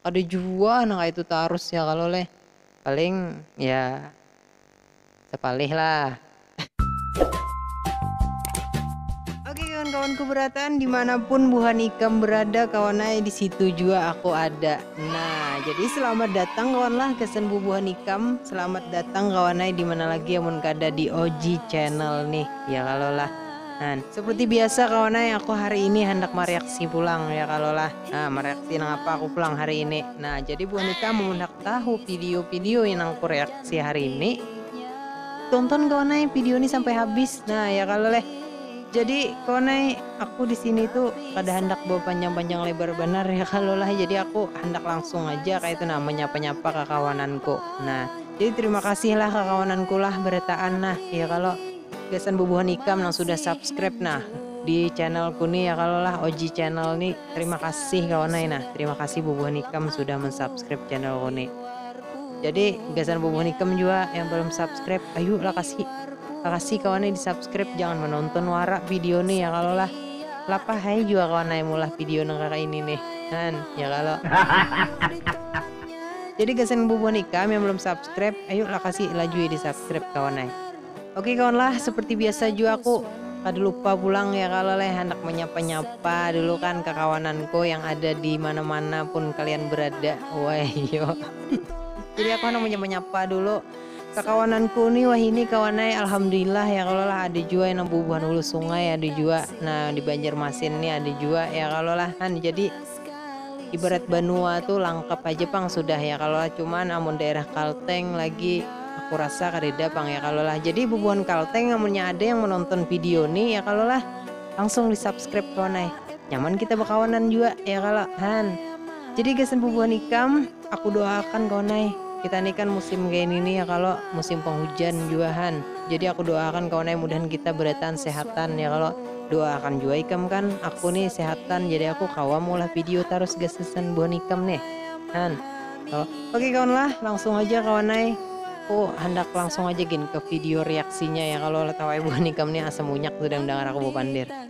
Kada jua nang kaya itu tarus ya kalo leh. Paling ya sapalih lah. Oke kawan-kawanku berataan dimanapun buhan ikam berada kawan ai disitu jua aku ada nah jadi selamat datang kawan lah gasan bubuhan ikam selamat datang kawan ai dimana lagi amun kada di oji channel nih ya kalo lah nah seperti biasa kawan ai aku hari ini handak mareaksi pulang ya kalo lah. Nah, mereaksi nang apa aku pulang hari ini. Nah, jadi buah nikah mun handak tahu video-video yang nang aku reaksi hari ini, tonton kawan ai video ini sampai habis. Nah, ya kalo leh. Jadi kawan ai, aku di sini tuh kada handak bapanjang-panjang lebar banar ya kalo lah. Jadi aku handak langsung aja kaya itu nah menyapa-nyapa kakawananku. Nah, jadi terima kasih lah kakawananku lah berataan nah, ya kalo. Gasan bubuhan ikam nang sudah subscribe nah di channel ku ni ya kalo lah Oji channel ni terima kasih kawan ai nah terima kasih bubuhan ikam sudah mensubscribe channel ku ni jadi gasan bubuhan ikam jua yang belum subscribe ayu lah kasih kakasih kawan ai di subscribe jangan menonton wara video ni ya kalo lah lapah ai jua kawan ai meulah video nang kaya ini nih han ya kalo jadi gasan bubuhan ikam yang belum subscribe ayu lah kasih lajui di subscribe kawan ai. Oke kawan lah, seperti biasa jua aku kada lupa pulang ya kalo leh handak manyapa-nyapa dulu kan kakawananku yang ada di mana-mana pun kalian berada. Wahyo. Jadi aku handak manyapa-nyapa dulu kakawananku ni wahini kawan ai alhamdulillah ya kalo lah ada jua nang bubuhan hulu sungai ada jua nah di Banjarmasin ni ada jua ya kalo lah kan jadi ibarat banua tu langkap haja pang sudah ya kalo lah cuman amun daerah kalteng lagi aku rasa kadada pang ya kalo lah jadi bubuhan kalteng amunnya ada yang menonton video ni ya kalo lah langsung di subscribe kawan ai nyaman kita bakawanan jua ya kalo han jadi gasan bubuhan ikam. Aku doakan kawan ai, kita ni kan musim kaya nini ya kalo, musim penghujan jua han, jadi aku doakan kawan ai mudahan kita berataan sehatan ya kalo, doakan jua ikam kan aku ni sehatan jadi aku kawa maulah video tarus gasan buhan ikam nih han kalo, oke kawan lah langsung haja kawan ai, aku handak langsung haja gin ke video reaksinya ya kalo, tau ai buhan ikam ni asa munyak sudah mendangar aku bapander.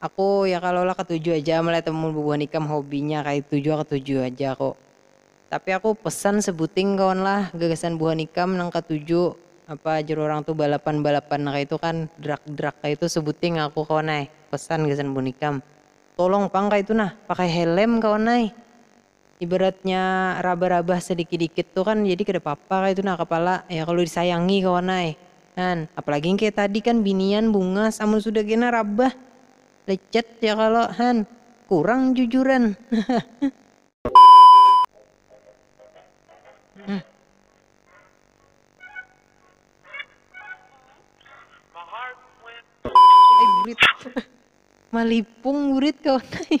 Aku, ya kalo lah ketuju aja am lah itu mun bubuhan ikam hobinya kaitu jua ketuju aja aku. Tapi aku pesan sebuting kawan lah gagasan buhan ikam nang ketuju apa jar urang tu balapan balapan kaitu kan drak drak kaitu sebuting aku kawan ai pesan gasan buhan ikam tolong pang kaitu nah pakai helem kawan ai. ibaratnya rabah-rabah sadikit-dikit tu kan jadi kada papa kaitu nah kapala ya kalu disayangi kawan ai kan apalagi yang kaya tadi kan binian bungas amun sudah kena rabah lecet ya kalo han kurang jujuran malipung burit kawan ai.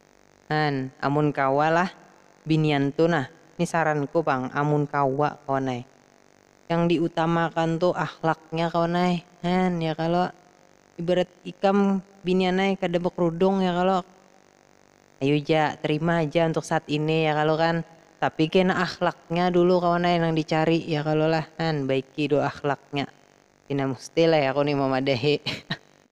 An, amun kawa lah binian tu nah, ni saranku pang amun kawa kawan ai. Yang di utamakan tu akhlaknya kawan ai, han ya kalo, ibarat ikam binian ai kada bakrudung ya kalo, ayu ja terima haja untuk saat ini ya kalo kan, tapi kena akhlaknya dulu kawan ai nang di cari ya kalo lah, han baiki dulu akhlaknya, pina musti lah ya aku ni mamadahi.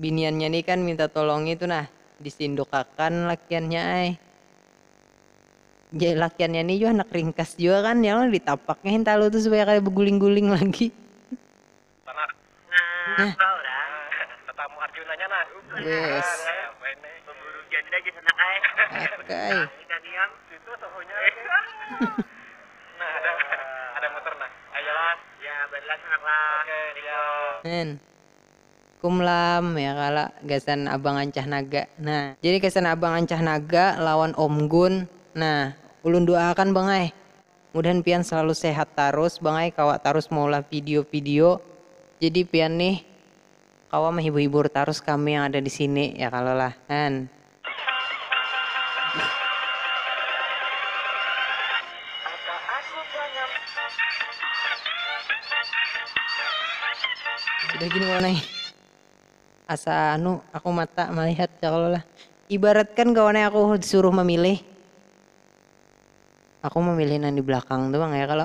biniannya ni kan minta tolongi tu nah, disindukakan lakiannya ai. Jar lakiannya ni jua handak ringkas jua kan, ya kalo ditapaknya hintalu tu supaya kada beguling-guling lagi. Nah. Kum lam, ya kalo gasan abang ancah naga, nah. Jadi gasan abang ancah naga lawan om gun, nah ulun duaakan bang ai, mudahan pian selalu sehat tarus bang ai kawa tarus maulah video video, jadi pian nih kawa mahibur hibur tarus kami yang ada disini ya kalo lah, han. Sudah gini kawan ai. Asa anu aku mata malihat cakalolah. Ibaratkan kawan ai aku disuruh mamilih. Aku mamilih nang di belakang tu pang ya kalo.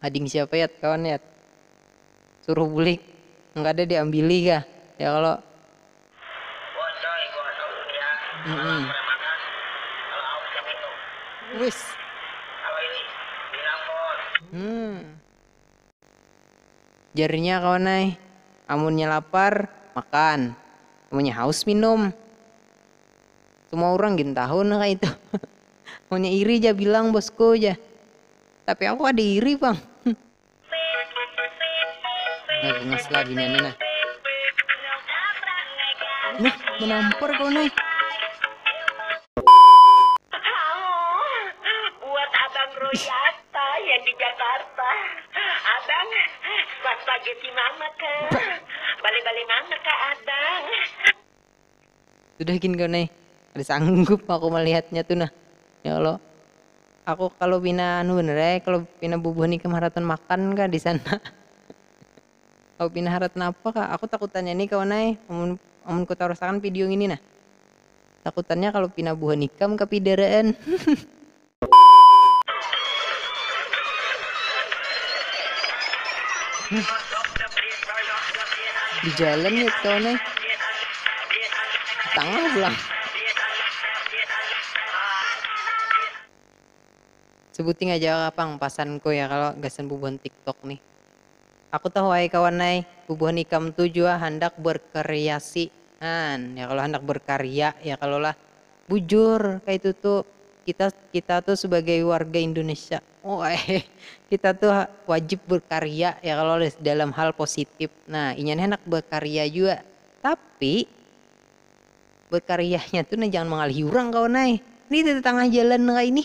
Ading siapa yat kawan yat. Suruh bulik nang kada di ambili kah ya kalo. Wan coy buhan awit ya kalo lapar ya makan kalo haus ya minum wis kalo ini bilang bon. Jar inya kawan ai amunnya lapar makan amunnya haus minum. Semua urang gin tahu nah kaitu. Munnya iri ja bilang bosku jar. Tapi aku kada iri pang. Nah bungas lah binian ni nah. Nah manampar kawan ai. sudah gin kawan ai kada sanggup aku malihatnya tu nah ya allah aku kalu pina anu banar ai kalu pina bubuhan ikam haratan makan kah disana kalu pina harat napa kah aku takutannya ni kawan ai amun amun ku tarus akan video ngini nah takutannya kalu pina buhan ikam kapidaraan. Di jalan ya tau nih. Tengah pulang. Sebuting aja kapang pasanku ya kalau gasan bubuhan TikTok nih. Aku tahu ai kawan ai, bubuhan ikam tu jua handak berkreasi. Nah, ya kalau handak berkarya ya kalau lah. Bujur kaitu tu kita kita tu sebagai warga Indonesia kita tu wajib berkarya ya kalo dalam hal positif nah inya ni handak berkarya jua tapi berkaryanya tu nah jangan mangalihi urang kawan ai ni di tetangah jalan kaini.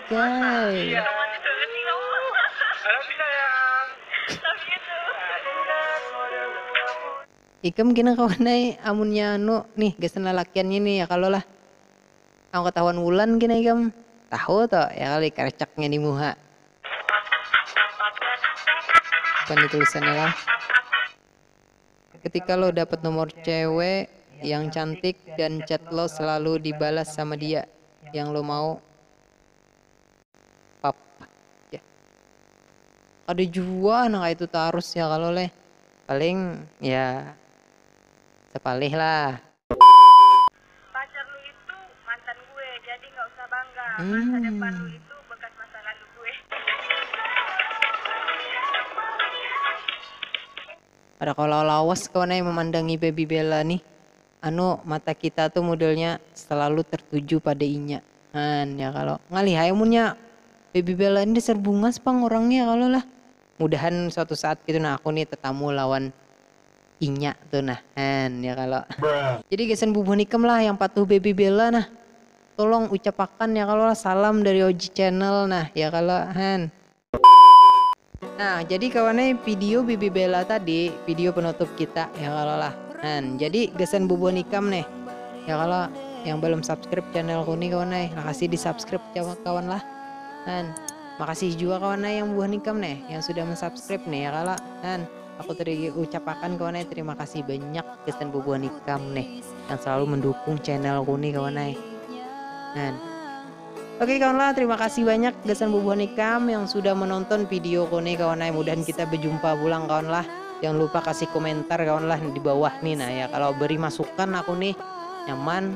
Ikam kena kawan ai amunnya anu nih gasan lalakiannya nih ya kalo lah. Am katahuan Wulan kena ikam. Tahu to ya kali karecaknya di muha. Bukan ditulisannya lah. Ketika lo dapat nomor cewe yang cantik dan chat lo selalu dibalas sama dia, yang lo mau pap ya. Kada jua nang kaya itu tarus ya kalo leh. Paling ya sapalih lah. Pacar lu itu mantan gue, jadi nggak usah bangga. Masa depan lu itu bekas masa lalu gue. Kada kawa lawas kawan ai mamandangi baby bella nih, anu mata kita tu modelnya selalu tertuju pada inya an ya kalo, ngalih ai amunnya baby bella ni dasar bungas pang orangnya kalo lah, mudahan suatu saat gitu nah aku nih tetamu lawan Inya tu nah an ya kalo. Jadi gasan bubuhan ikam lah yang patuh Baby Bella nah tolong ucapakan ya kalo lah salam dari Oji Channel nah ya kalo han. Nah jadi kawan ai video Baby Bella tadi video penutup kita ya kalo lah han jadi gasan bubuhan ikam nih ya kalo yang balum subscribe channel ku nih kawan ai lakasi di subscribe kawan lah han makasih jua kawan ai yang bubuhan ikam nih yang sudah mensubscribe nih ya kalo han. Aku tadi ucapakan kawan eh terima kasih banyak gasan bubuhan ikam nih yang selalu mendukung channel ku nih kawan eh. Nah. Oke kawan lah, terima kasih banyak gasan bubuhan ikam yang sudah menonton video ku nih kawan eh. Mudahan kita berjumpa pulang kawan lah. Jangan lupa kasih komentar kawan lah di bawah nih nah ya. Kalau beri masukan aku nih nyaman.